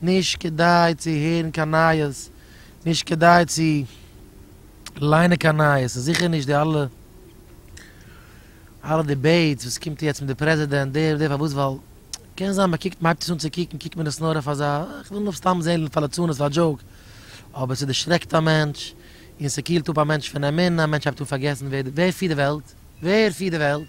נישט כדאי צו הערן קיין נייעס, נישט כדאי צו ליינען קיין נייעס, און זיכער נישט די אלע אלע דיבעיטס וואס קומט יעצט מיט די פרעזידענט דער און דער, פארוואס? ווייל קען זיין מען קוקט מען הייבט עס אן צו קוקן קוקט מען עס נאר אויף אזא איך וויל נאר סתם זען פאר ליצנות פאר דזשאוק, אבער ס'דערשרעקט א מענטש, און ס'קילט אפ א מענטש פון אמונה, א מענטש הייבט אן פארגעסן ווער פירט די וועלט, ווער פירט די וועלט?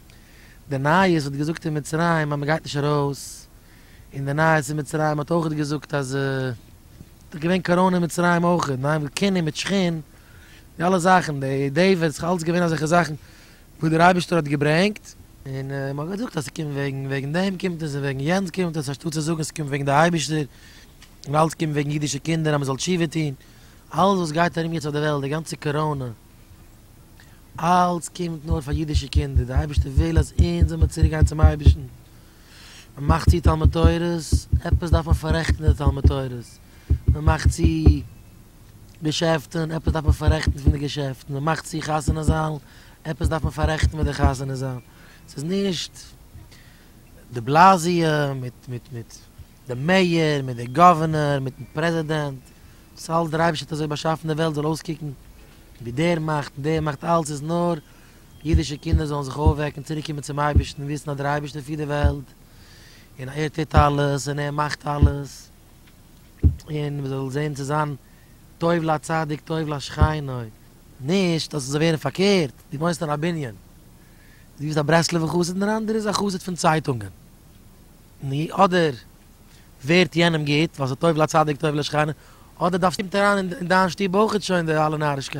די נייעס האט געזאגט אין מצרים אז מען גייט נישט ארויס, און די נייעס אין מצרים האט אויכעט געזאגט אז ס'דאך געווען קאראנע אין מצרים אויכעט, ניין וואס כינע מיט שכין, די אלע זאכן, די דעיוויד, ס'דאך אלץ געווען אזעלכע זאכן וואס דער אייבערשטער האט געברענגט, און מען האט געזאגט אז ס'קומט וועגן וועגן דעם קומט עס און וועגן יענץ קומט עס, אנשטאט צו זאגן ס'קומט וועגן די אייבערשטער, און אלץ קומט וועגן אידישע קינדער אז מען זאל תשובה טון, אלעס וואס גייט ארום יעצט אויף די וועלט, די גאנצע קאראנע, אלץ קומט נאר פאר אידישע קינדער, דער אייבערשטער וויל אז אונז זאל מען צוריק גיין צום אייבערשטן, מען מאכט צו תלמוד תורה'ס, עפעס דארף מען פאררעכטן די תלמוד תורה'ס, מען מאכט צו געשעפטן, עפעס דארף מען פאררעכטן פון די געשעפטן, מען מאכט צו חתונה זאלן, עפעס דארף מען פאררעכטן מיט די חתונה זאלן, ס'איז נישט דעבלאזיא מיט מיט מיט. די מעיאר מיט די גאווערנאר מיטן פרעזידענט, דאס אלס דער אייבערשטער האט אזוי באשאפן די וועלט זאל אויסקוקן ווי דער מאכט און דער מאכט אלס איז נאר אידישע קינדער זאלן זיך אויפוועקן צוריק קומען צום אייבערשטן און וויסן אז דער אייבערשטער פירט די וועלט און ער טוט אלעס און ער מאכט אלעס און מען זאל זען צו זיין טוב לצדיק טוב לשכנו. נישט אז עס זאל ווערן פארקערט, דו וואוינסט אין א בנין, דו ביסט א ברסלב'ער חסיד און דער אנדערער איז א חסיד פון צייטונגען, ני אדער ווערט יענעם גוט ווייל ס'טוב לצדיק טוב לשכנה, אדער דארפסטו אונטער אריין אין דיין שטוב אויך שוין די אלע נארישקייטן.